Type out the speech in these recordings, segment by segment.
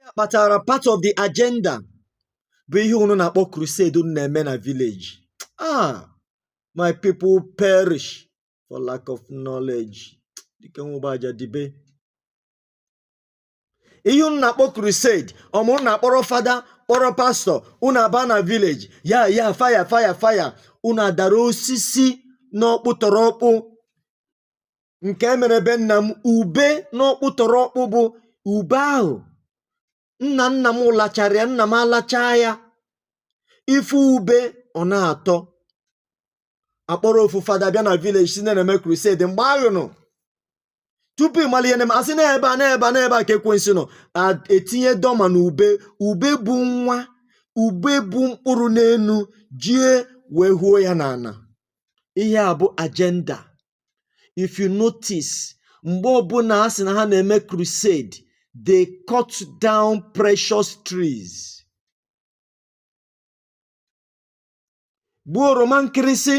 ya kpatara part of the agenda bụ ihe unu na-akpọ crusade unu na-eme na village ah my people perish for lack of knowledge dike nwụba aja dibe ihe unu na-akpọ crusade ọ bụ unu na-akpọrọ fada kpọrọ pastọ unu aba na village ya ya fire fire fire unu adara osisi n'ọkpụ tọrọ ọkpụ nke e mere be nna m ube n'ọkpụ tọrọ ọkpụ bụ ube ahụ nna nna m lachara ya nna m alachaa ya ife ube ọ na-atọ a kpọrọ ofu fada bịa na village sị na a na-eme crusade mgbe ahụ nọ tupu ị mara ihe na-eme a sị n'ebe a n'ebe a n'ebe a ka ekwensu nọ a- etinye dọma na ube ube bu nwa ube bu mkpụrụ n'enu jie wee huo ya n'ana ihe a bụ agenda if you notice mgbe ọbụla a sị na ha na-eme crusade they cut down precious trees gbuo oroma nkịrịsị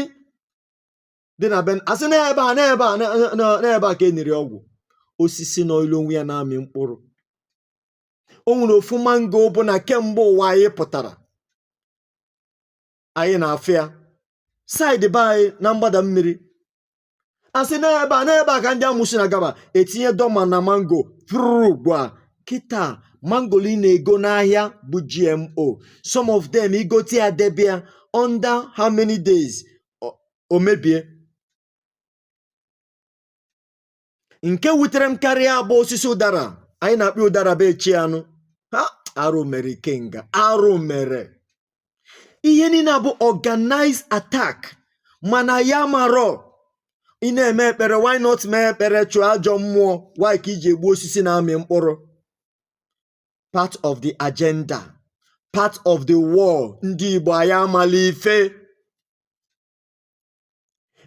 dị na ben a sị n'ebe a n'ebe a na- na- na- n'ebe a ka e niri ọgwụ osisi nọọlụ onwe ya na-amị mkpụrụ o nwere ofu mango bụ na kemgbe ụwa anyị pụtara anyị na-afụ ya side be anyị na mgbada mmiri a sị n'ebe a n'ebe a ka ndị amusu na-agaba etinye dọma na mango pụrụ gbuo ya kịta mango ị na-ego n'ahịa bụ gmo some of them i gote ya debe ya under how many days o mebie nke wutere m karịa bụ osisi ụdara anyị na-akpọ ụdara be echi anụ ha arụ mere ikenga arụ mere ihe niile bụ organized attack mana anyị amarọ ị na-eme ekpere why not mee ekpere chụọ ajọ mmụọ why ka i ji egbu osisi na-amị mkpụrụ part of the agenda part of the war ndị Igbo anyị amala ife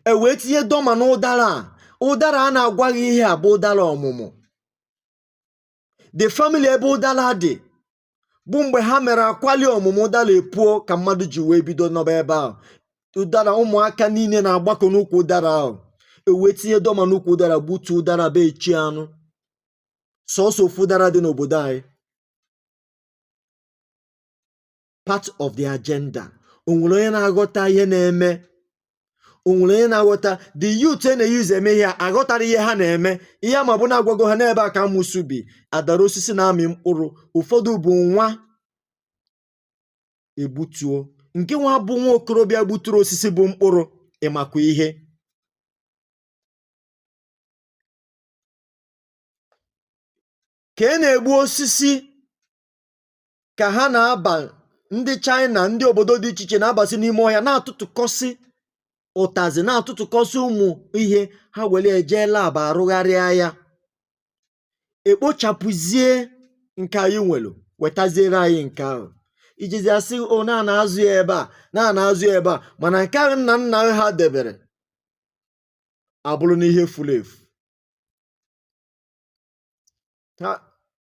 e wee tinye dọma na ụdara a ụdara a na-agwa gị ihe a bụ ụdara ọmụmụ the family ebe ụdara dị bụ mgbe ha mere akwali ọmụmụ ụdara epuo ka mmadụ ji wee bido nọba ebe ahụ ụdara ụmụaka niile na-agbakọ n'ukwu ụdara ahụ e wee tinye dọma n'ukwu ụdara gbutuo ụdara be echi anụ sọsọ ofu ụdara dị n'obodo anyị part of the agenda onwere onye na-aghọta ihe na-eme onwere onye na-aghọta the youth e na-e use eme ihe a aghọtara ihe ha na-eme ihe ha ma bụ na agwago ha n'ebe a ka amụsụ bi adara osisi na-amị mkpụrụ ụfọdụ bụ nwa egbutuo nke nwa bụ nwa okorobịa gbuturu osisi bu mkpụrụ ị makwa ihe ka e na-egbu osisi ka ha na-aba ndị China ndị obodo dị iche iche na-abasi n'ime ọhịa na-atụtụkọsị ụtazị na-atụtụkọsị ụmụ ihe ha were eje lab arụgharịa ya ekpochapụzie nke anyị nwere wetaziere anyị nke ahụ ejizi asị o na-azụ ya ebe a na-azụ ya ebe a mana nke ahụ nna nna ha debere abụrụ n'ihe furu efu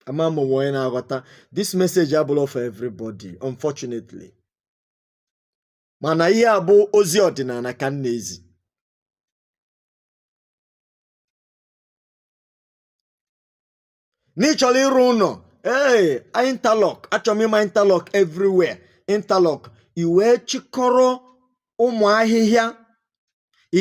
ama m ma onwe onye na-aghọta this message abụrọ for everybody unfortunately mana ihe a bụ ozi ọdịnala ka m na-ezi na ị chọrọ ịrụ ụlọ ee interlock achọrọ m ịma interlock everywhere interlock i wee chịkọrọ ụmụ ahịhịa ị